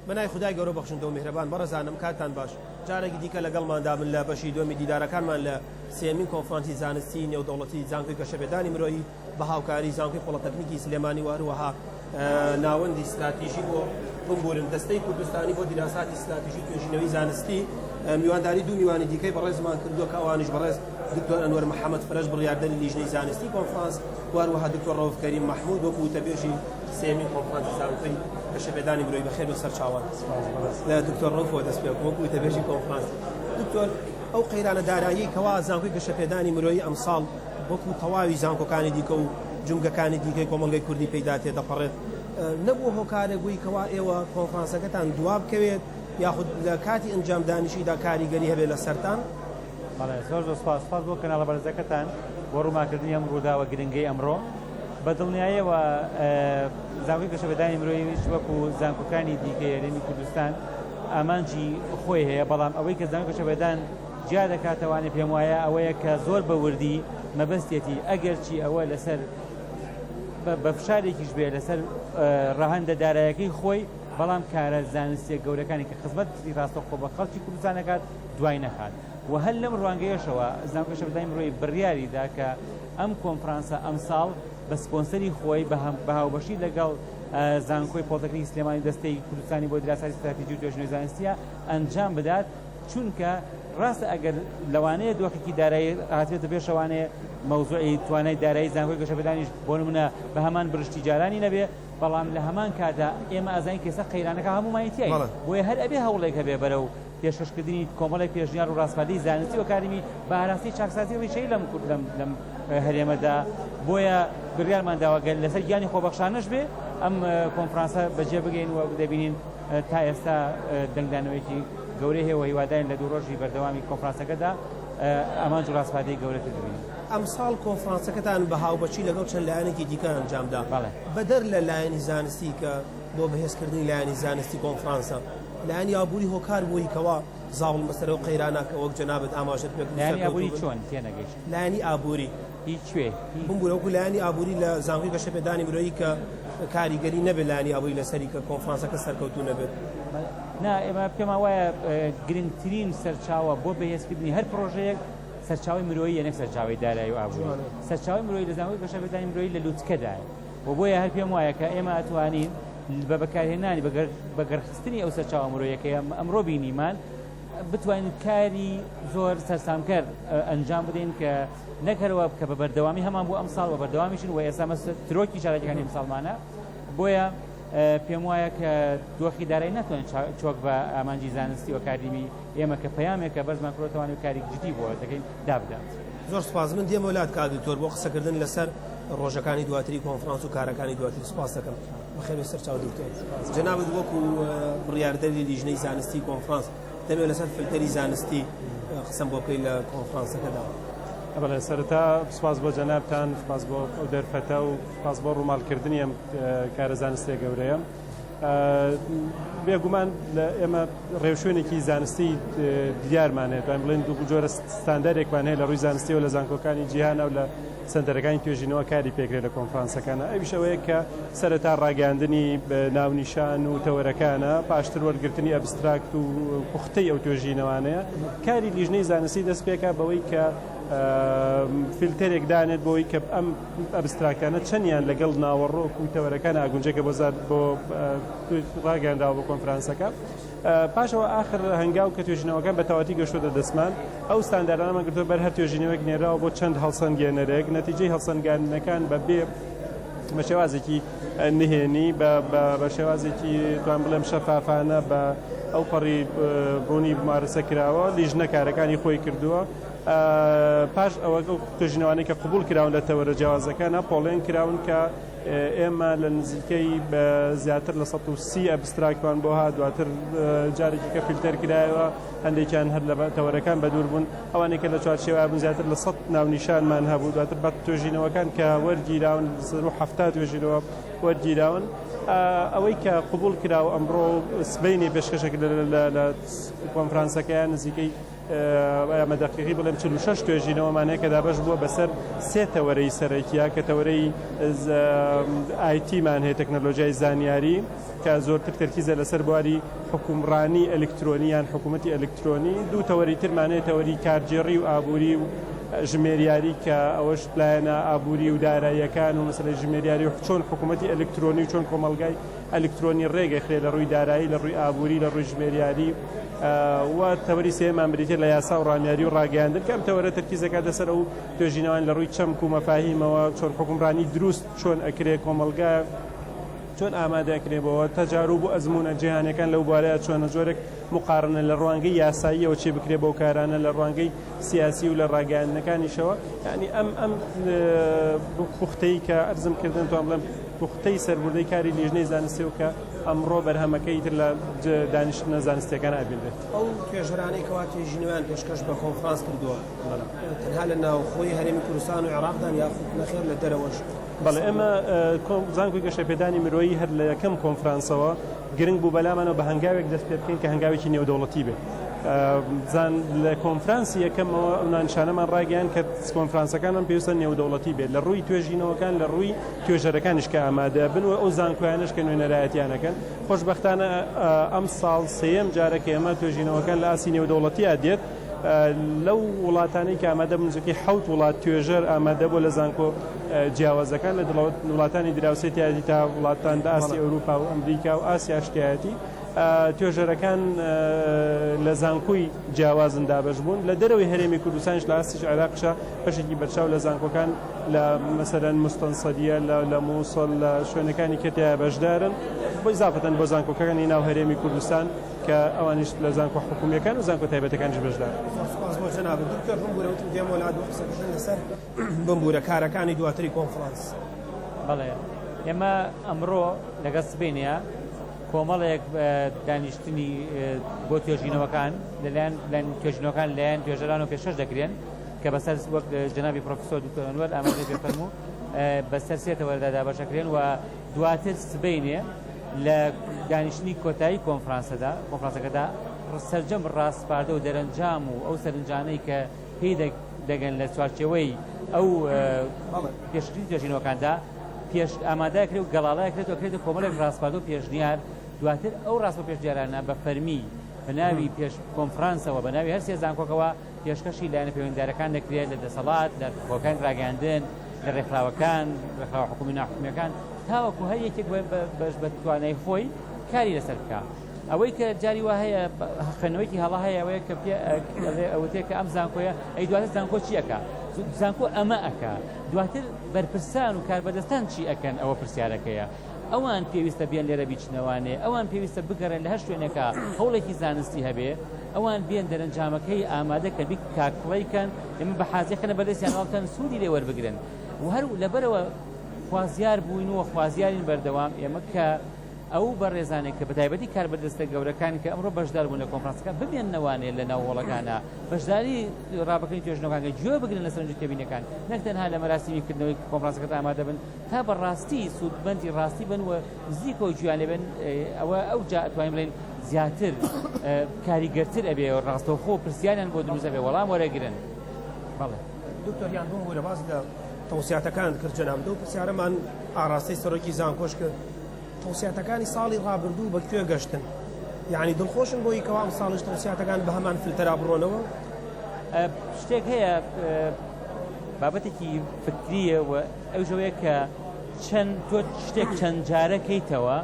بەنای خدای گەورە بەخشندە و میهرەبان بەڕزانم کاتان باش جارێکی دیکە لەگەڵماندا من لە بەشی دومی دیدارەکانمان لە سێمین کۆنفرانسی زانستی نێودەوڵەتی زانکۆی گەشەپێدانی مرۆیی بە هاوکاری زانکۆی پۆڵەتەکنیکی سلێمانی و هەروەها ناوەندی ستراتیژی بۆ بمبورن دەستەی کوردستانی بۆ دیراساتی ستراتیژی توێژینەوەی زانستی میوانداری دوو میوانی دیکەی بەڕێزمان کردووە کە ئەوانش بەڕێز دکتۆر ئەنوەر محەممەد فرەش بڕاردەری لیژنەی زانستی کۆنفرانس واروەها دکتۆر ڕەوف کەریم مححمود وەکو وتەبێژی سێمین کۆنفرانسی زانکۆی کە شەبێدانی برۆی بەخێر بە سەرچاوان لە دکتۆر ڕەوفەوە دەست پێ وەکو وتەبێژی کۆنفرانس دکتۆر ئەو قەیرانە دارایی کەوا زانکۆی گەشەپێدانی مرۆیی ئەمساڵ وەکو تەواوی زانکۆکانی دیکە و جومگەکانی دیکەی کۆمەڵگەی کوردی پێیدا تێدەپەڕێت، نەبووە هۆکارێک بووی کەوا ئێوە کۆنفرانسەکەتان دوابکەوێت یاخود لە کاتی ئەنجامدانیشیدا کاریگەری هەبێت لەسەرتان؟ بەڵێ، زۆر زۆر سوپاس، سوپاس بۆ کەناڵە بەرزەکەتان بۆ ڕوونماکردنی ئەم ڕووداوە گرنگەی ئەمڕۆ. بە دڵنیایەوە زانکۆی گەشەپێدانی مرۆیش وەکو زانکۆکانی دیکەی هەرێمی کوردستان ئامانجی خۆی هەیە، بەڵام ئەوەی کە زانکۆی گەشەپێدان جیا دەکاتەوانێ پێم وایە ئەوەیە کە زۆر بە وردی مەبەستێتی ئەگەرچی ئەوە لەسەر بە فشارێکیش بێ لەسەر ڕەهندە دارایەکەی خۆی بەڵام کارە زانستیە گەورەکانی کە خزمەت پرسی ڕاستەخۆ بە خەڵکی کوردستانەکات دوای نەخات و هەر لەم ڕوانگەیەشەوە زانکۆشە بدای مرۆی بڕیاریدا کە ئەم کۆنفرانسە ئەمساڵ بە سپۆنسەری خۆی بە هەم بەهاوبەشی لەگەڵ زانکۆی پۆتەکری سلێمانی دەستەی کوردستانی بۆ دراسای ستراتیجی و توێژنەوەی زانستیە ئەنجام بدات چونکە ڕاستە ئەگەر لەوانەیە دۆخێکی دارایی هاتبێتە پێش ئەوانەیە مەوزوعی توانای دارایی زانکۆی گەشەپێدانیش بۆ نمونە بە هەمان برشتی جارانی نەبێ بەڵام لە هەمان کادا ئێمە ئازانین کێسە قەیرانەکە هەمومانی تای بۆیە هەر ئەبێ هەوڵێک هەبێ بەرە و پێشکەشکردنی کۆمەڵی پێشنیار و ڕاستپاردەی زانستی و کارمی بە ئاراستی چاکسازی ڕیشەی لەم کورد لەم لەم هەرێمەدا بۆیە بڕیارمان داواگەل لەسەر گیانی خۆبەخشانەش بێ ئەم کۆنفرانسە بەجێ بگەین و دەبینین تا ئێستا دەنگدانەوەیەکی گەورەی هەیە و هیوادارین لە دوو ڕۆژی بەردەوامی کۆنفرانسەکەدا ئامانج و ڕاسپاردەی گەورەتر ببینین. ئەمساڵ کۆنفرانسەکەتان بە هاوبەشی لەگەڵ چەند لایەنێکی دیکە ئەنجامدا، بەدەر لە لایەنی زانستی کە بۆ بەهێزکردنی لایەنی زانستی کۆنفرانسە، لایەنی ئابووری هۆکار بووی کەوا زاڵ بن بەسەر ئەو قەیرانە کە وەک جەنابت ئاماژەت پێکرد؟ لایەنی ئابووری چۆن تێنەگەیشتم؟ لایەنی ئابووری. بوون وەکو لایەنی ئابووری لە زانکۆی گەشەپێدانی مرۆیی کە کاریگەری نەبێت لایەنی ئابووری لەسەری کە کۆنفرانسەکە سەرکەوتوو نەبێت. نا ئێمە پێمان وایە گرنگترین سەرچاوە بۆ بەهێزکردنی هەر پڕۆژەیەک سەرچاوی مرۆیی نەک سەرچاوی دارایی و ئابووری سەرچاوی مرۆیی لە زانکۆی گەشەپێدانی مرۆیی لە لوتکەدایە و بۆیە هەر پێم وایە کە ئێمە ئەتوانین بە بەکارهێنانی بەگەرخستنی ئەو سەرچاوە مرۆیەکەی ئەمڕۆ بینیمان بتوانین کاری زۆر سەرسامکەر ئەنجام بدەین کە نەک هەر ئەوە کە بە بەردەوامی هەمان بوو ئەمساڵ بە بەردەوامیشن و ئێستا مەسە ترۆکی چالاکیەکانی ئەمساڵمانە بۆیە پێم وایە کە دۆخی دارای ناتوانن چۆک بە ئامانجی زانستی و کاریمی ئێمە کە پەیامێکە بەس ماکرۆتەوانی و کاری جدی بۆ دەکەین دابدات. زۆر سپاس من دێمە لات کا دکتۆر بۆ قسەکردن لەسەر ڕۆژەکانی دواتری کۆنفرانس و کارەکانی دواتری سپاس دەکەم بەخێوێ سەر چاو دکتۆر جنابت وەکو بڕیاردەری لیژنەی زانستی کۆنفرانس دەمەوێت لەسەر فلتەری زانستی قسەم بۆ بکەیت لە کۆنفرانسەکەدا. بەڵێ سەرەتا سپاس بۆ جەنابتان سپاس بۆ ئەو دەرفەتە و سپاس بۆ ڕووماڵکردنی ئەم کارە زانستێ گەورەیە بێگومان لە ئێمە ڕێوشوێنێکی زانستی دیارمانێت بڵێن دوو جۆرە ستاندارێکمان هەیە لە ڕووی زانستی و لە زانکۆکانی جیهانە و لە سەنتەرەکانی توێژینەوە کاری پێکرێت لە کۆنفرانسەکانا ئەویش ئەوەیە کە سەرەتا ڕاگەیاندنی ناونیشان و تەوەرەکانە پاشتر وەرگرتنی ئەبستراکت و پوختەی ئەو توێژینەوانەیە کاری لیژنەی زانستی دەست پێکا بەوەی کە فیلتەرێک دانێت بۆی کە ئەم ئەبستراکتانە چەندیان لەگەڵ ناوەڕۆک و تەوەرەکان ئاگونجێکە بۆ زار بۆ ڕاگەنراوە بۆ کۆنفرانسەکە پاش ئەوە ئاخر هەنگاو کە توێژینەوەکان بە تەواوەتی گەشتووەتە دەستمان، ئەو ستانداردانەمان گرتووە بەر، هەر توێژینەوەیەک نێراوە بۆ چەند هەڵسەنگێنەرێک، نەتیجەی هەڵسەنگاندنەکان بە بێ بە شێوازێکی نهێنی بە شێوازێکی توان بڵێم شەفافانە بە ئەو پەڕی ڕوونی مارەسە کراوە لیژنە کارەکانی خۆی کردووە پاش ئەوە توێژینەوانی کە قوبول کراون لە تەوەرە جیاوازەکانە پۆڵێن کراون کە ئێمە لە نزیکەی زیاتر لە سەد و سی ئەبستراکتمان بۆ هات، دواتر جارێکی کە فیلتەر کرایەوە، هەندێکیان هەر لە تەوەرەکان بەدوور بوون، ئەوانەی کە لە چوارچێوە بوون زیاتر لە سەد ناونیشانمان هەبوو، دواتر بە توێژینەوەکان کە وەرگیراون سەر و حەفتا توێژینەوە وەرگیراون. ئەوەی کە قبوڵ کرا و ئەمڕۆ سبەینێ پێشکەشە کرا لە کۆنفرانسەکەیان نزیکەی بەدەقیقی بڵێم چل و شەش توێژینەوەمان هەیە کە دابەش بووە بەسەر سێ تەوەرەی سەرەکیە کە تەوەرەی ئایتیمان هەیە تەکنەلۆژیای زانیاری کە زۆرتر تەرکیزە لەسەر بواری حکومڕانی ئەلکترۆنی یان حکوومەتتی ئەلکترۆنی دوو تەوەری ترمانەیە تەوەری کارگێڕی و ئابووری و ژمێریاری کە ئەوەش لایەنە ئابووری و داراییەکان و مەسلەی ژمێریاری و چۆن حکوومەتتی ئەلکترۆنی و چۆن کۆمەلگای ئەلکترۆنی ڕێگەخرێ لە ڕووی دارایی، لە ڕووی ئابووری، لە ڕووی ژمێریاری و تەوەری سێیەمان بریتیە لە یاسا و ڕامیاری و ڕاگەیاندن کە ئەم تەوەرە تەرکیز دەکاتە سەر ئەو توێژینەوانە لە ڕووی چەمک و مەفاهیمەوە چۆن حوکمڕانی دروست چۆن ئەکرێ کۆمەڵگا چۆن ئامادە ئەکرێ بۆوە تەجاروب و ئەزموونە جیهانیەکان لەو بوارەیا چۆنە جۆرێک موقارنە لە ڕوانگەی یاساییەوە چێ بکرێ بەو کارانە لە ڕوانگەی سیاسی و لە ڕاگەیاندنەکانیشەوە یانی ئەم ئەم پوختەی کە ئەرزم کردن توان بڵێم پوختەی سەربردەی کاری لیژنەی زانستی و کە ئەمڕۆ بەرهەمەکە ئیتر لە دانیشتنە زانستیەکان ئابینێت ئەو توێژەرانەی کەوا توێژینەوەیان پێشکەش بە کۆنفرانس کردووە تەنها لە ناوخۆی هەرێمی کوردستان و عێراقدان یاخود نەخێر لە دەرەوەش بەڵێ ئێمە زانکۆی گەشەپێدانی مرۆیی هەر لە یەکەم کۆنفرانسەوە گرنگ بوو بەلامانەوە بە هەنگاوێک دەست پێ بکەین کە هەنگاوێکی نێودەوڵەتی بێت زان لە کۆنفرانسی یەکەمەوە ئەونانشانەمان ڕاگەیان کە کۆنفرانسەکانمان پێویستە نێودەوڵەتی بێت لە ڕووی توێژینەوەکان لە ڕووی توێژەرەکانیش کە ئامادە بن و ئەو زانکۆیانش کە نوێنەرایەتیانەکەن خۆشببختانە ئەم ساڵ سێم جارە کە ئێمە توێژینەوەکان لە ئاسی نێودەوڵەتیا دێت لەو وڵاتانەی کە ئامادە بوون نزیکەی حەوت وڵات توێژەر ئامادە بووە لە زانکۆ جیاوازەکان لە وڵاتانی دراوسێ تایەتی تا وڵاتان لە ئاستی ئەوروپا و ئەمریکا و ئاسیاش تایەتی توێژەرەکان لە زانکۆی جیاوازن دابش بوون لە دەرەوەی هەرێمی کوردستانش لە ئاستیش عێراقشە بەشێکی بەرچاو لە زانکۆکان لە مەسەرەن مستەنسەریە لە مووسڵ لە شوێنەکانی کە تیا بەشدارن بۆی زاافەتەن بۆ زانکۆکەکانی ناو هەرێمی کوردستان کە ئەوانیش لە زانکۆ حکومییەکان و زانکۆ تایبەتەکانیش بەشدار بوون. سوپاس بۆ جەنابت دکتۆر بمبوورە وتم دێم بۆ لات بۆ قسەکردن لەسەر بمبوورە کارەکانی دواتری کۆنفرانس. بەڵێ ئێمە ئەمڕۆ لەگەڵ سبەینێ کۆمەڵێک دانیشتنی بۆ توێژینەوەکان لەلایەن لەلایەن توێژینەوەکان لەلایەن توێژەرانەوە پێشکەش دەکرێن کە بەسەر وەک جەنابی پرۆفیسۆر دکتۆر ئەنوەر ئاماژەی پێ فەرموو بەسەر سێ تەوەرەدا دابەشەکرێن و دواتر سبەینێ لە دانیشتنی کۆتایی کۆنفرانسەدا کۆنفرانسەکەدا سەرجەم ڕاسپاردە و دەرەنجام و ئەو سەرنجانەی کە پێی دەگەن لە چوارچێوەی ئەو پێشکردنی توێژینەوەکاندا پێش ئامادە کرێت و گەڵاڵای کرێت و کرێت کۆمەلێک ڕاستپاردە و پێشنیار دواتر ئەو ڕاست و پێشنیارانە بە فەرمی بە ناوی پێش کۆنفرانسەوە بە ناوی هەر سێ زانکۆکەوە پێشکەشی لایەنە پەیوەندیدارەکان دەکرێت لە دەسەڵات، لە هۆکانی ڕاگەیاندن، لە ڕێکخراوەکان، ڕێکخراوە حکومی و ناحکومییەکان، تاوەکو هەر یەکێک بە بە توانای خۆی کاری لەسەر بکا. ئەوەی کە جاری وا هەیە خوێندنەوەیەکی هەڵە هەیە ئەوەیە کە پێ ئەڵێ ئەوتێ کە ئەم زانکۆیە ئەی دواتر زانکۆ چی ئەکا؟ زانکۆ ئەمە ئەکا دواتر بەرپرسان و کاربەدەستان چی ئەکەن ئەوە پرسیارەکەیە. ئەوان پێویستە بێن لێرە بیچنەوانێ، ئەوان پێویستە بگەڕێن لە هەر شوێنێکا هەوڵێکی زانستی هەبێ، ئەوان بێن دەرەنجامەکەی ئامادە کە بیک کا کڵەی کەن، ئێمە بە حازێ خەنە بەردەستیان وا بکەن سوودی لێ وەربگرن و هەر لەبەرەوە خوازیار بووین و خوازیارین بەردەوام ئێمە کە ئەو بەڕێزانێک کە بەتایبەتی کاربەدەستە گەورەکان کە ئەمڕۆ بەشدار بوون لە کۆنفرانسەکە بمێننەوانێ لە ناو هۆڵەکانە بەشداری ڕاپەکەی توێژنەوەکانگە گوێ بگرن لە سەرنج تێبینەکان نەک تەنها لە مەراسیمی کردنەوەی کۆنفرانسەکە ئامادە بن تا بە ڕاستی سوودمەندی ڕاستی بن و نزیکەوە گوێیان لێ بێن، ئەوە ئەوجا ئەتوانین بڵێین زیاتر کاریگەرتر ئەبێ و ڕاستەوخۆ پرسیاریان بۆ دروست ئەبێ وەڵام وەرەگرن. بەڵێ. دکتۆر یان بۆ هورە باس لە تەوسیاتەکانت کرد جەنابت و پرسیارەمان ئاراستەی سەرۆکی زانکۆش کرد، تەوسیاتەکانی ساڵی ڕابردوو بە کوێ گەشتن؟ یانی دڵخۆشن بۆی کەوا ئەمساڵیش تەوسیاتەکان بە هەمان فلتەرا بڕۆنەوە؟ شتێک هەیە بابەتێکی فکریە و ئەو ژەوەیە کە چەند تۆ شتێک چەند جارە کەیتەوە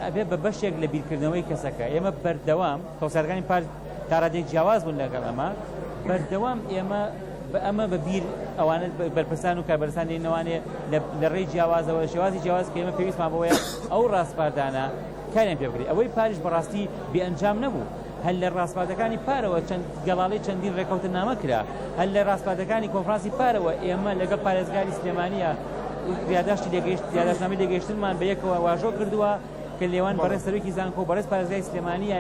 ئەبێ بە بەشێک لە بیرکردنەوەی کەسەکە ئێمە بەردەوام کۆسارەکانی پار تاڕادێک جیاواز بوون لەگەڵ ئەمە بەردەوام ئێمە بە ئەمە بە بیر ئەوانە بەرپرسان و کاربەرسان لێنەوانێ لە ڕێی جیاوازەوە شێوازی جیاواز کە ئێمە پێویستمان بۆیە ئەو ڕاستپاردانە کاریان پێ بکرێت ئەوەی پاریش بەڕاستی بێ ئەنجام نەبوو هەر لە ڕاسپاردەکانی پارەوە چەند گەڵاڵەی چەندین ڕێکەوتنامە کرا، هەر لە ڕاسپاردەکانی کۆنفرانسی پارەوە ئێمە لەگەڵ پارێزگاری سلێمانییە یاداشتی لێگەیشت یاداشتنامەی لێگەیشتنمان بە یەکەوە واژۆ کردووە کە لێوان بەڕێز سەرۆکی زانکۆ و بەڕێز پارێزگاری سلێمانییە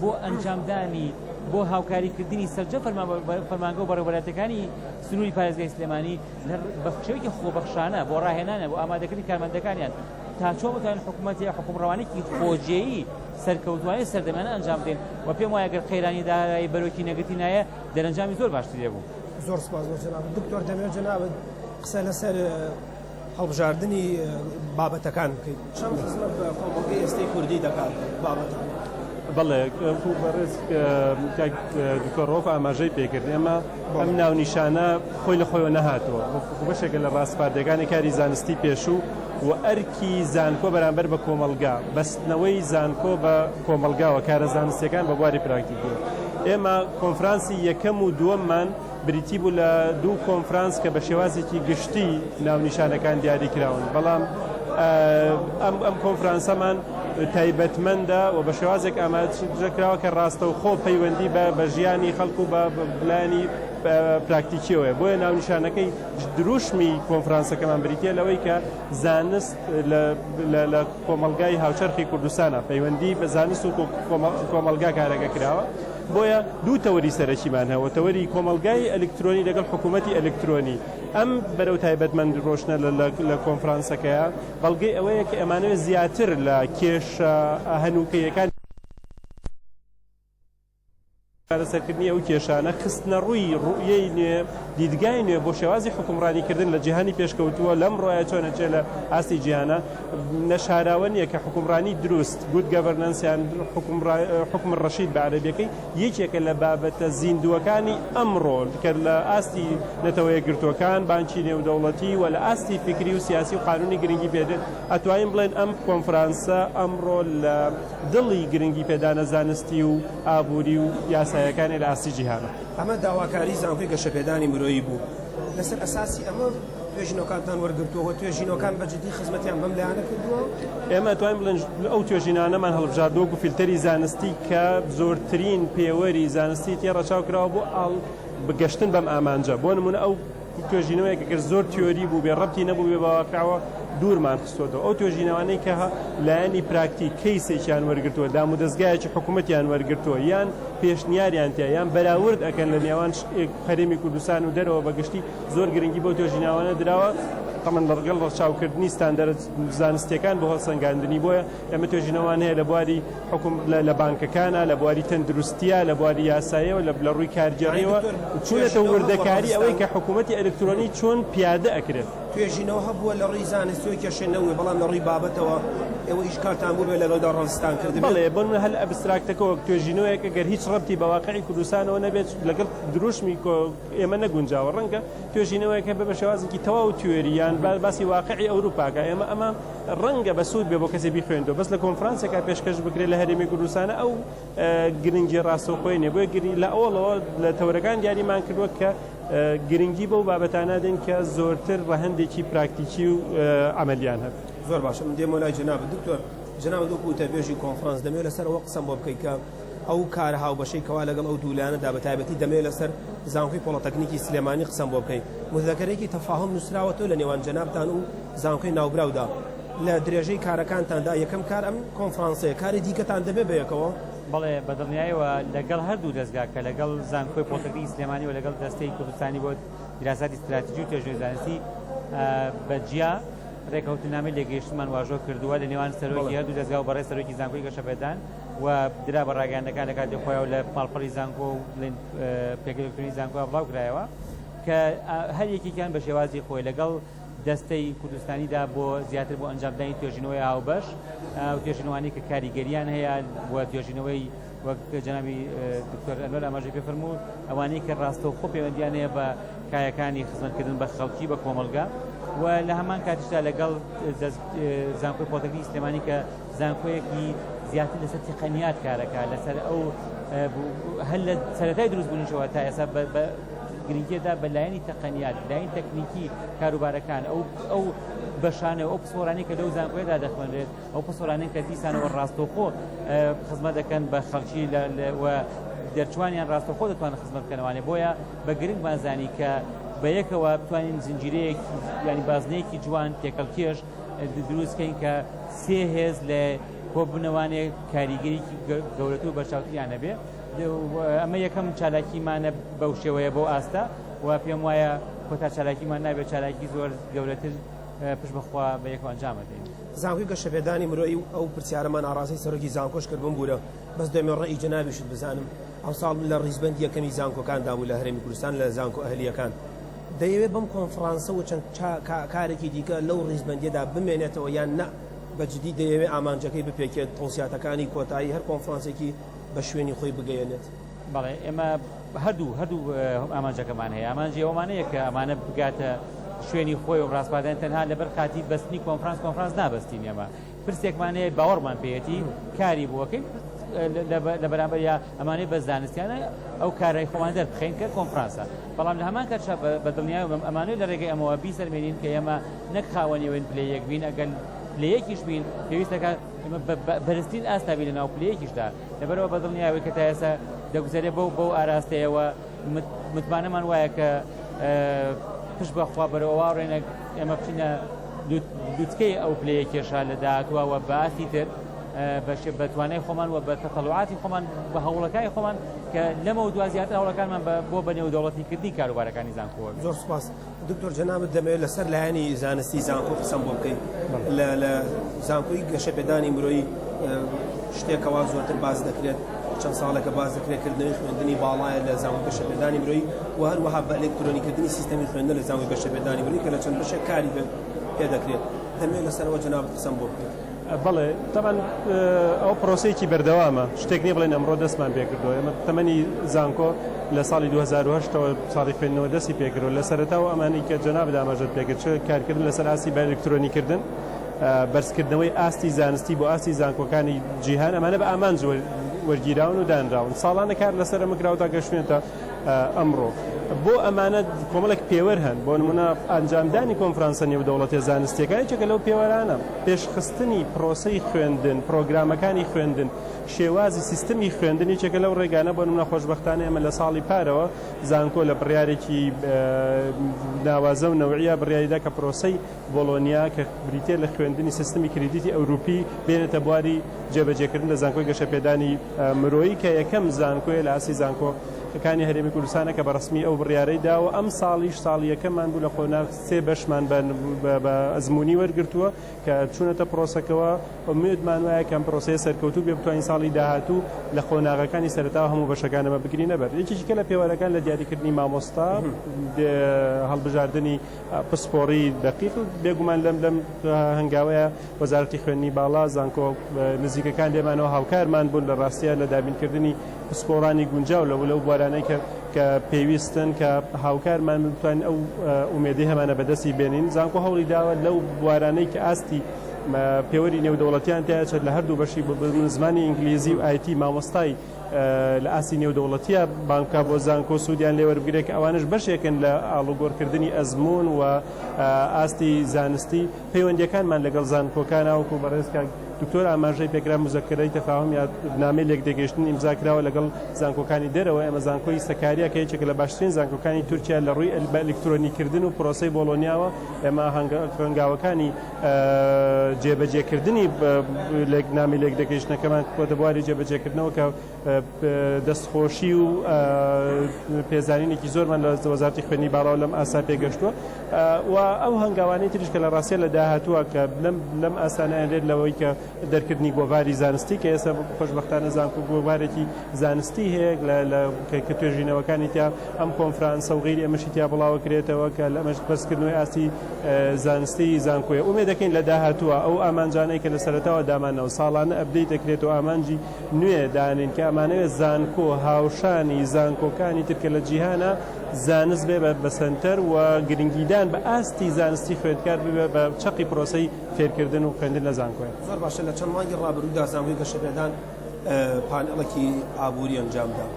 بۆ ئەنجامدانی بۆ هاوکاریکردنی سەرجەم فەرمانگە و بەڕێوەبەرایەتیەکانی سنووری پارێزگای سلێمانی بە شێوەیەکی خۆبەخشانە بۆ ڕاهێنانە بۆ ئامادەکردنی کارمەندەکانیان تا چۆن بتوانین حکومەت یا حکومڕەوانێکی خۆجێیی سەرکەوتوانی سەردەمانە ئەنجام بدەین و پێم وایە گەر قەیرانی دارایی بەرۆکی نەگرتی نایە دەرەنجامی زۆر باشتر دەبوو زۆر سپاس بۆ جناب دکتۆر دەمێ جنابت قسە لەسەر هەڵبژاردننی بابەتەکان بکەیت چەند خزمەت بە کۆمەڵگەی ئێستەی کوردی دەکات بابەت بەڵێ بەڕێز دکتۆرۆف ئاماژەی پێکرد ئێمە ئەم ناونیشانە خۆی لە خۆیەوە نەهاتووە، بەڵکو بەشێکە لە ڕاسپاردەکانی کاری زانستی پێشوو و ئەرکی زانکۆ بەرامبەر بە کۆمەڵگا، بەستنەوەی زانکۆ بە کۆمەڵگا و کارە زانستییەکان بە بواری پراکتیکی. ئێمە کۆنفرانسی یەکەم و دووەممان بریتی بوو لە دوو کۆنفرانس کە بە شێوازێکی گشتی ناونیشانەکان دیاری کراون، بەڵام ئەم کۆنفرانسەمان، تایبەتمەندە و بە شێوازێک ئاماژە کراوە کە ڕاستەوخۆ پەیوەندی بە بە ژیانی خەڵک و بە لایەنی پراکتیکیەوە هەیە بۆیە ناونیشانەکەی دروشمی کۆنفرانسەکەمان بریتە لەوەی کە زانست لە کۆمەلگای هاوچەرخی کوردستانە پەیوەندی بە زانست و کۆمەلگا کارەکە کراوە بۆیە دوو تەوەری سەرەکیمان هەوە تەوەری کۆمەلگای ئەلکترۆنی لەگەڵ حکوومەتتی ئەلکترۆنی ئەم بەرەو تایبەتمەند ڕۆشنە لە کۆنفرانسەکەیە بەڵگەی ئەوەیە کە ئەمانەوێت زیاتر لە کێشە هەنووکەییەکانی چارەسەرکردنی ئەو کێشانە، خستنەڕووی ڕوئیەی نوێ، دیدگای نوێ بۆ شێوازی حوکمڕانیکردن لە جیهانی پێشکەوتووە، لەمڕۆیە چۆنە جێ لە ئاستی جیهانە. نەشاراوە نییە کە حوکمڕانی دروست، Good Governance، یان حوکم ڕەشید بە عەرەبییەکەی، یەکێکە لە بابەتە زیندووەکانی ئەمڕۆ کە لە ئاستی نەتەوەیەکگرتووەکان، بانکی نێودەوڵەتی و لە ئاستی فیکری و سیاسی و قانوونی گرنگی پێدێت، ئەتوانین بڵێن ئەم کۆنفرانسە ئەمڕۆ لە دڵی گرنگی پێدانە زانستی و ئابووری و یاساییەکانی لە ئاستی جیهانە. ئەمە داواکاری زانکۆی گەشەپێدانی مرۆیی بوو لەسەر ئەساسی ئەمە، توێژینەوەکانتان وەرگرتووە و توێژینەوەکان بە جدی خزمەتیان بەم لایەنە کردووە؟ ئێمە ئەتوانین بڵێین ئەو توێژینانەمان هەڵبژاردووە وەکو فیلتەری زانستی کە زۆرترین پێوەری زانستی تێ ڕەچاو کراوە بۆ ئاڵ بە گەشتن بەم ئامانجە بۆ نمونە ئەو توێژینەوەیە کە گەر زۆر تیۆری بوو بێ ڕەبتی نەبوو بێ بەواقعەوە دوورمان خستۆتەوە ئەو توێژینەوانەی کە لایەنی پراکتی کەیسێکیان وەرگتووە دام و دەستگایەکی حکوومەتیان وەرگتووە یان پێشنیاریان تیا یان بەراورد ئەەکەن لە نێوان هەرێمی کوردستان و دەرەوە بەگشتی زۆر گرنگی بەو توێژیناوانە دراوە، تەمەن لەڕگەڵ ڕەچاوکردنی ستاندەرە زانستیەکان بۆ هەڵسەنگاندنی بۆیە ئێمە توێژینەوان هەیە لە بواری حکوم لە بانکەکانە لە بواری تەندروستیە لە بواری یاسایەوە لە لە ڕووی کارگێڕیەوە چونەتە وردەکاری ئەوەی کە حکوومەتتی ئەلکترۆنی چۆن پیادە ئەکرێت توێژینەوە هەبووە لە ڕووی زانستیەوە کێشە نەوە بەڵام لە ڕووی بابەتەوە ئەوە ئیش کارتان بوو بێ لەگەڵدا ڕستان کرد بڵێ بن هەل ئەبستراکتەکەەوە توێژینەوەیەکە گەر هیچ ڕەتی بەواقعی کوردستانەوە نەبێت لەگەڵ دروشمی ئێمە نەگونجاوە ڕەنگە توێژینەوەیەک هەبێ بە شێوازێکی تەواو تیۆری یان باسی واقعی ئەوروپاکە ئێمە ئەمە ڕەنگە بە سوود بێ بۆ کەسێ بیخوێندەوە بەس لە کۆنفرانسێکا پێشکەش بکرێت لە هەرێمی کوردستانە ئەو گرنگی ڕاستەوخۆی نێ بۆیە گری لە ئەوڵەوە لە تەورەکان دیاریمان کردوە کە گرنگی بەو بابەتانە دێن کە زۆرتر ڕەهندێکی پراکتیکی و ئەمەلیان هەن زۆر باشم دێمۆلای جناب دکتۆر جناب دو کوتە بێژی کۆنفرانس دەمێ لەسەر ئەوە قسەم بۆ بکەیت کە ئەو کارە هاوبەشەی کەوا لەگەڵ ئەو دوو لایەنەدا بە تایبەتی دەمەوێت لەسەر زانکۆی پۆڵەتەکنیکی سلێمانی قسەم بۆ بکەی مزەکەرێکی تەفاهم نووسراوەتەوە لە نێوان جەنابتان و زانکۆی ناوبراودا لە درێژەی کارەکانتاندا یەکەم کار ئەم کۆنفرانسەیە کاری دیکەتان دەبێ بەیەکەوە بەڵێ بە دڵنیایەوە لەگەڵ هەردوو دەزگا کە لەگەڵ زانکۆی پۆڵتەکنیکی سلێمانی و لەگەڵ دەستەی کوردستانی بۆ دیراساتی ستراتیجی و تێژوی زانستی بە جیا ڕێکەوتنامەی لێگەیشتمان واژۆ کردووە لە نێوان سەرۆکی هەردوو دەزگا و بەڕێز سەرۆکی زانکۆی گەشەپێدان و درا بە ڕاگەیاندنەکان لە کاتی خۆیەوە لە ماڵپەڕی زانکۆ و بڵێن پێگە ئەلکترۆنی زانکۆ بڵاو کرایەوە کە هەر یەکێکیان بە شێوازی خۆی لەگەڵ دەستەی کوردستانیدا بۆ زیاتر بۆ ئەنجامدانی توێژینەوەی هاوبەش و توێژینەوانی کە کاریگەریان هەیە و توێژینەوەی وەک جەنابی دکتۆر ئەنوەر ئاماژەی پێ فەرموو ئەوانەی کە ڕاستەوخۆ پەیوەندیان هەیە بە کایەکانی خزمەتکردن بە خەڵکی بە کۆمەڵگە و لە هەمان کاتیشدا لەگەڵ زانکۆی پۆتەکنی سلێمانی کە زانکۆیەکی زیاتر لەسەر تقنیات کارەکە لەسەر ئەو هەر لە سەرەتای دروست بوونیشەوە تا ئێستا گرنگیدا بە لایەنی تەقەنیات لایەن تەکنیکی کاروبارەکان ئەو ئەو بەشانە ئەو پسۆرانی کە لەو زانکۆیدا دەخوێنرێت ئەو پسۆرانین کە دیسانەوە ڕاستەوخۆ خزمە دەکەن بە خەڵکی لە دەرچوانیان ڕاستەخۆ دەتوان خزمە بکەنەوانێ بۆیە بە گرنگ بازانی کە بە یەکەوە بتوانین زنجیرەیەکی ینی بازنەیەکی جوان تێکەڵکێش دروست کەین کە سێ هێز لە کۆبوونەوانێ کاریگەریکی گەورەتر و بەرچاوتریان هەبێ ئەمە یەکەم چالاکیمانە بەو شێوەیە بۆ ئاستە و پێم وایە کۆتا چالاکیمان نابێت چالاکی زۆر گەورەتر پشت بەخوا بە یەک ئەنجامە دێن زانکۆی گەشەپێدانی مرۆی و ئەو پرسیارەمان ئاڕاستەی سەرۆکی زانکۆش کرد بم بوورە بەس دەمێ ڕێی جەنابیشت بزانم ئەمساڵ لە ڕیزبەندی یەکەمی زانکۆکاندا بوو لە هەرێمی کوردستان لە زانکۆ ئەهلییەکان دەیەوێت بەم کۆنفڕانسە و چەند کارێکی دیکە لەو ڕیزبەندییەدا بمێنێتەوە یان نا، بە جدی دەیەوێت ئامانجەکەی بپێکێت، تەوسیاتەکانی کۆتایی هەر کۆنفڕانسێکی بە شوێنی خۆی بگەیەنێت؟ بەڵێ، ئێمە هەردوو هەردوو ئامانجەکەمان هەیە، ئامانجی ئەومان هەیە کە ئەمانە بگاتە شوێنی خۆی و ڕاسپاردەن، تەنها لەبەر خاتری بەستنی کۆنفڕانس، کۆنفڕانس نابەستین ئێمە. پرسێکمان هەیە باوەڕمان پێیەتی کاری بۆ ئەکەین لە بەرامبەریا ئەمانەی بە زانستیانە ئەو کارای خۆمان دەربخەین کە کۆنفرانسە بەڵام لە هەمان کاتشا بە دڵنیای بم ئەمانەی لە ڕێگەی ئەمەوە بیسەرمێنین کە ئێمە نەک خاوەنیەوەین پلە یەک بین ئەگەر لە یەکیش بین پێویستەکە ئمە بەرزترین ئاستابی لە ناو پلەیەکیشدا لەبەرەوە بە دڵنیاوەی کە تا ئێستا دەگوزارێ بەو بەو ئاراستەیەوە متمانەمان وایە کە پشت بە خوا بەرەوە واڕێنە ئێمە بچینە دوتکەی ئەو پلەیە کێشا لە داهاتوە وە باسی تر بەشێ بەتوانای خۆمان و بە تەتەڵعاتی خۆمان بە هەوڵەکانی خۆمان کە لەمە و دوازیات هەوڵەکانمان بۆ بە نێو دەوڵەتی کردی کاروبارەکانی زانکۆوە زۆر سپاس دکتۆر جەنابت دەمەوێت لەسەر لایەنی زانستی زانکۆ قسەم بۆ بکەیت لە زانکۆی گەشەپێدانی مرۆیی شتێکەوە زۆرتر باز دەکرێت چەند ساڵێکە باز دەکرێت کردنەوەی خوێندنی باڵایە لە زانکۆ گەشەپێدانی مرۆیی و هەروەها بە ئەلکترۆنیکردنی سیستەمی خوێندن لە زانکۆی گەشەپێدانی مرۆیی کە لە چەند بەشێک کاری پێ دەکرێت دەمەوێت لەسەرەوە جەنابت قسەم بۆ بکەیت بەڵێ تەبعەن ئەوە پرۆسەیەکی بەردەوامە شتێک نیە بڵێن ئەمڕۆ دەستمان پێکردووە ئێمە تەمەنی زانکۆ لە ساڵی 2010ەوە ساڵی خوێندنەوە دەستی پێکردەوە لە سەرەتاوە ئەمانی کە جەنابت ئاماژەت پێکرد چ کارکردن لەسەر ئاستی بە ئەلکترۆنیکردن بەرزکردنەوەی ئاستی زانستی بۆ ئاستی زانکۆکانی جیهان ئەمانە بە ئامانج وەرگیراون و دانراون ساڵانە کار لەسەر ئەمە کراوەتە گەشتێتە ئەمڕۆ بۆ ئەمانە کۆمەڵێک پێوەر هەن، بۆ نموونە ئەنجامدانی کۆنفرانسە نێودەوڵەتییە زانستییەکان یەکێکە لەو پێوەرانە، پێشخستنی پرۆسەی خوێندن، پرۆگرامەکانی خوێندن، شێوازی سیستمی خوێندن یەکێکە لەو ڕێگانە، بۆ نموونە خۆشبەختانە ئێمە لە ساڵی پارەوە زانکۆ لە بڕیارێکی ناوازە و نەوعییە بڕیاریدا کە پرۆسەی بۆڵۆنیا کە بریتییە لە خوێندنی سیستمی کریدیتی ئەوروپی بێنێتە بواری جێبەجێکردن لە زانکۆی گەشەپێدانی مرۆیی کە یەکەم زانکۆیە لە ئاستی زانکۆ کانی هەرێمی کوردستانە کە بەڕسمی ئەو بڕیارەی داوە ئەم ساڵیش ساڵی یەکەمان بوو لە قۆناغ سێ بەشمان بە ئەزمموی وەرگتووە کە چوونەتە پرۆسەکەەوە ئومێدمان وایە کەم پرۆسەیە سەرکەوتوب بێ بتوانین ساڵی داهاتوو لە قۆناغەکانی سەرتا هەموو بەشەکانەمە بگرینە بەر یەکێکە لە پێوەرەکان لە دیاریکردنی مامۆستا هەڵبژاردننی پسپۆڕی دەقیق و بێگومان لەم لەم هەنگاوەیە وەزارەتی خوێندنی باڵا زانکۆ نزیکەکان لێمانەوە هاوکارمان بوون لە ڕاستیە لە دابینکردنی پسپۆڕانی گونجاو لە لەو بوارانەی کە کە پێویستن کە هاوکارمان بتوانین ئەو ئومێدی هەمانە بەدەستی بێنین زانکۆ هەوڵی داوە لەو بوارانەی کە ئاستی پێوەری نێودەوڵەتیان تیاچێت لە هەردوو بەشی زمانی ئینگلیزی و ئایتی مامۆستای لە ئاستی نێودەوڵەتییە بانکە بۆ زانکۆ سوودیان لێوەربگرێت کە ئەوانش بەشێکن لە ئاڵوگۆڕکردنی ئەزمون و ئاستی زانستی پەیوەندیەکانمان لەگەڵ زانکۆکان ناوکو بەڕێزکە دکتۆر ئاماژەی پێکرا مزەکرەی تەفاهم یا نامی لێک دەگەشتن ئیمزا کراوە لەگەڵ زانکۆکانی دەرەوە ئەمە زانکۆی سەکاریا کە یەکێک لە باشترین زانکۆکانی تورکیا لە ڕووی ئەلبە ئەلکترۆنی کردن و پرۆسی بۆڵۆنیاوە ئێمە هەنگاوەکانی جێبەجێکردنی نامی لێکدەکێشنەکەمان کۆتە بواری جێبەجێکردنەوە کە دەستخۆشی و پێزانینێکی زۆرمان لە وەزارتی خوێنی باڵاو لەم ئاسا پێگەشتووە و ئەو هەنگاوانی تریش کە لە ڕاستە لە داهاتووە کە لەم ئاسانیان لێت لەوەی کە دەرکردنی گۆڤاری زانستی کە ئێستا خۆشبەختانە زانکۆ گۆڤارێکی زانستی هەیە لە کە توێژینەوەکانی تیا ئەم کۆنفرانسە و غیری ئەمەشی تیا بڵاوە کرێتەوە کە لە ئەمەش بەرزکردنەوەی ئاستی زانستی زانکۆیە ئومێ دەکەین لە داهاتووە ئەو ئامانجانەی کە لە سەرەتاوە دامانەوە ساڵانە ئەبدەی دەکرێت و ئامانجی نوێ دانین کە ئەمانەوێت زانکۆ هاوشانی زانکۆکانی ترکە لە جیهانە زانست بێ بە سەنتەر و گرنگیدان بە ئاستی زانستی خوێندکار ببێ بە چەقی پرۆسەی فێرکردن و خوێندن لە زانکۆیە. زۆر باشە، لە چەند مانگی ڕابردوودا زانکۆی گەشەپێدان پانێڵێکی ئابووری ئەنجامدا،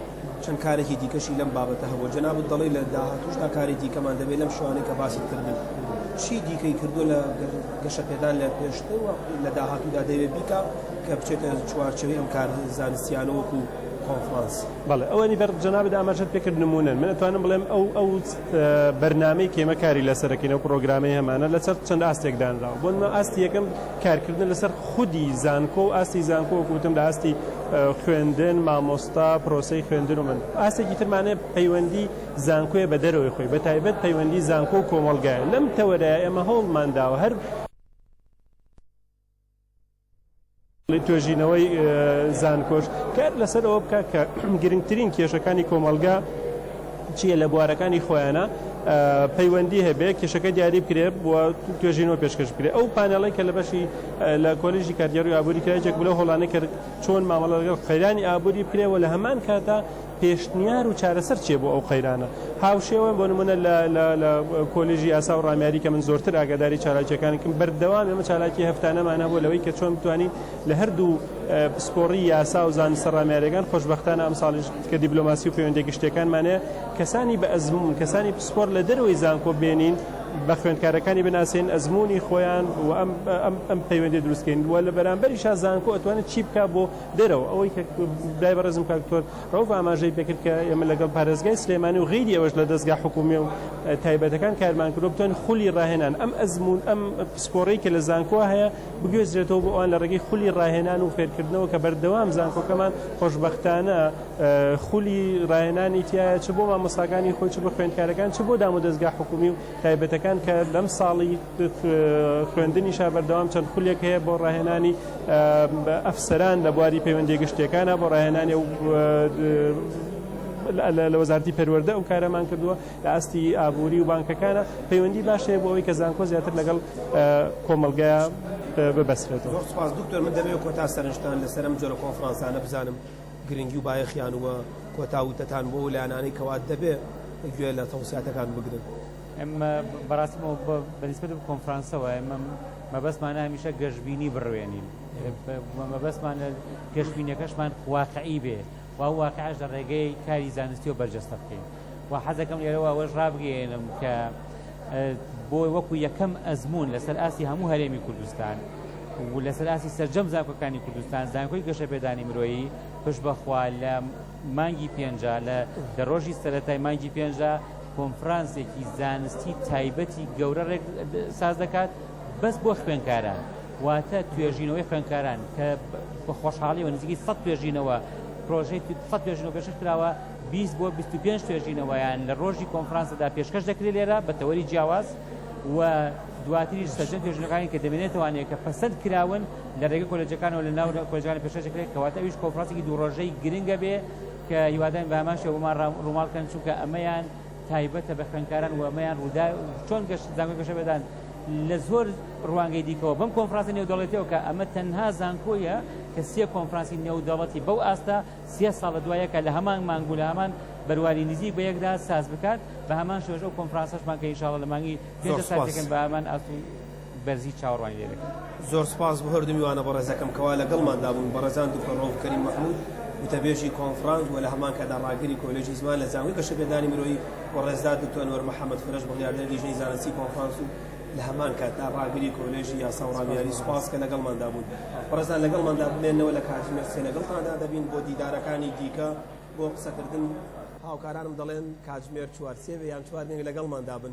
چەند کارێکی دیکەشی لەم بابەتە هەبووە، جەنابت دەڵێی لە داهاتووشدا کاری دیکەمان دەبێت لەم شێوانەی کە باست کردن، چی دیکەی کردووە لە گەشەپێدان لە پێشتر و لە داهاتوودا دەیەوێت بیکا کە بچێتە چوارچێوەی ئەم کار زانستیانە وەکو کۆنفرانس؟ بەڵێ، ئەوەی بەڕێز جەنابت ئاماژەت پێکرد نموونەن، من ئەتوانم بڵێم ئەو ئەو. بەرنامەی کە ئێمە کاری لەسەر دەکەین، ئەو پڕۆگرامەی هەمانە لەسەر چەند ئاستێک دانراوە، بۆ نموونە ئاستی یەکەم کارکردنە لەسەر خودی زانکۆ و ئاستی زانکۆ وەکو وتم لە ئاستی خوێندن، مامۆستا، پرۆسەی خوێندن و من ئاستێکی ترمان هەیە پەیوەندی زانکۆیە بە دەرەوەی خۆی بە تایبەت پەیوەندی زانکۆ و کۆمەڵگایە لەم تەوەرەیە ئێمە هەوڵمان داوە هەر توێژینەوەی زانکۆش کار لەسەر ئەوە بکە کە گرنگترین کێشەکانی کۆمەلگا چیە لە بوارەکانی خۆیانە پەیوەندی هەبێ کێشەکە دیاری بکرێ بووە توێژینەوە پێشکەش بکرێ ئەو پانەڵی کە لە بەشی لە کۆلیژی کارگەری ئابووری کرایجێک بلە هۆڵانە کرد چۆن مامەڵە لەگەڵ قەیرانی ئابووری بکرێەوە لە هەمان کاتا پێشنیار و چارەسەر چیە بۆ ئەو قەیرانە؟ هاوشێوەن بۆ نمونە لە لە لە کۆلێژی یاسا و ڕامیاری کە من زۆرتر ئاگاداری چالاکیەکانکم بەردەوام ئێمە چالاکی هەفتانەمان هەبوە لەوەی کە چۆن بتوانین لە هەردوو پسپۆڕی یاسا و زانستە ڕامیاریەکان خۆشبەختانە ئەمساڵیش کە دیبلۆماسی و پەیوەندە گشتیەکانمانە کەسانی بە ئەزمون کەسانی پسپۆر لە دەرەوەی زانکۆ بێنین بە خوێندکارەکانی بناسێن ئەزمونی خۆیان و ئەم ئەم ئەم پەیوەندی دروستکەین وە لە بەرامبەریشا زانکۆ ئەتوانێت چی بکا بۆ دەرەوە، ئەوەی کە برای بەڕێزم کاک دکتۆر رەوف ئاماژەی پێکرد کە ئێمە لەگەڵ پارێزگای سلێمانی و غەیری ئەوەش لە دەزگا حکوومیە و تایبەتەکان کارمان کردوە بتوانین خولی راهێنان ئەم ئەزموون ئەم پسپۆڕی کە لە زانکۆ هەیە بگوێزرێتەوە بۆ ئەوان لە ڕێگەی خولی راهێنان و فێرکردنەوە کە بەردەوام زانکۆکەمان خۆشببختانە خولی راهێنانی تایە چ بۆ مامۆستاکانی خۆی چ بە خوێندکارەکان چ بۆ دام و دەزگا حکوومی و تایبەتەکان کە لەم ساڵی خوێندنیشا بەردەوام چەند خولێک هەیە بۆ ڕاهێنانی ئەفسەران لە بواری پەیوەندی گشتەکانە بۆ ڕاهێنانی و لە وەزارتی پەروەەردە ئەو کارەمان کردووە لە ئاستی ئابووری و بانکەکانە پەیوەندی باش هەیە بۆ ئەوی کە زانکۆ زیاتر لەگەڵ کۆمەلگا ببەسرێت سپاس دکتۆر من دەبێت کۆتا سەرنجتان لەسەرم جۆرە کۆنفرانسانە بزانم گرنگی و بایەخیان وە کۆتاوتەتان بۆ لایەنانەی کەوات دەبێت گوێ لە تەوساتەکان بگرن ئێمە بەڕاستی بە نیسبەت بە کۆنفرانسەوە ئێمە مەبەستمانە هەمیشە گەشبینی بڕوێنین مەبەستمان لە گەشبینەکەشمان واقعی بێ و واقعش لە ڕێگەی کاری زانستی و بەرجەستە بکەین و حەزەکەم لێرەوە ئەوەش ڕابگەێنم کە بۆی وەکو یەکەم ئەزمون لەسەر ئاستی هەموو هەرێمی کوردستان و لەسەر ئاسی سەرجەم زانکۆکانی کوردستان زانکۆی گەشە پێدانی مرۆیی پشت بەخوا لە مانگی پێنجا لە لە ڕۆژی سەرەتای مانگی پێنجا کۆنفرانسێکی زانستی تایبەتی گەورە ڕێک ساز دەکات بەس بۆ خوێنکاران واتە توێژینەوەی خوێنکاران کە بە خۆشحاڵیەوە نزیکی سە توێژینەوە پرۆژەی سە توێژینەوە پێشش کراوە 20 بۆ 25 توێژینەوەیان لە ڕۆژی کۆنفرانسەدا پێشکەش دەکرێت لێرە بە تەوەری جیاواز و دواتریش سەرجەم توێژینەکانی کە دەمێنێتوانێت کە پەسەند کراون لە رێگەی کۆلێجەکانەوە لە ناو کۆلێجەکان پێشکەشی کرێت کەواتە ئەویش کۆنفرانسێکی دوو رۆژەی گرنگە بێ کە هیوادارین بە هەمان شێوە بۆمان رووماڵ کەن چونکە ئەمەیان تایبەتە بە خوێندکاران و ئەمەیان روودا چۆن گەشت زانکۆی گەشە بەدان لە زۆر ڕوانگەی دیکەوە بەم کۆنفرانسی نێودەڵێتەوە کە ئەمە تەنها زانکۆیە کە سێ کۆنفرانسی نێودەڵەتی بەو ئاستە سێ ساڵە دوایەکە لە هەمان مانگ و لە هەمان بەرواری نزیک بە یەکدا ساز بکات بە هەمان شێوەش ئەو کۆنفرانسەشمان کە ئینشاڵڵە لە مانگی پێنج سازەکەن بە هەمان ئاست بەرزی چاوەڕوانی لێ دەکەین. زۆر سپاس بۆ هەردوو میوانە بەڕێزەکەم کەوا لەگەڵماندا بوون، بەڕێزان دوکتۆر ڕەوف کەریم مەحمود، وتەبێژی کۆنفڕانس و لە هەمان کاتدا ڕاگری کۆلێژی زمان لە زانکۆی گەشەپێدانی مرۆیی و ڕێزدار دوکتۆر ئەنوەر محەمەد فرەش بڕیاردەری لیژنەی زانستی کۆنفڕانس و لە هەمان کاتدا ڕاگری کۆلێژی یاسا و ڕامیاری سپاس کە لەگەڵماندا بوون بەڕێزان لەگەڵماندا بمێننەوە لە کاتژمێر سێ لەگەڵتاندا دەبین بۆ دیدارەکانی دیکە بۆ قسەکردن هاوکارانم دەڵێن کاتژمێر چوار سێ بێ یان چوار نێوی لەگەڵماندا بن.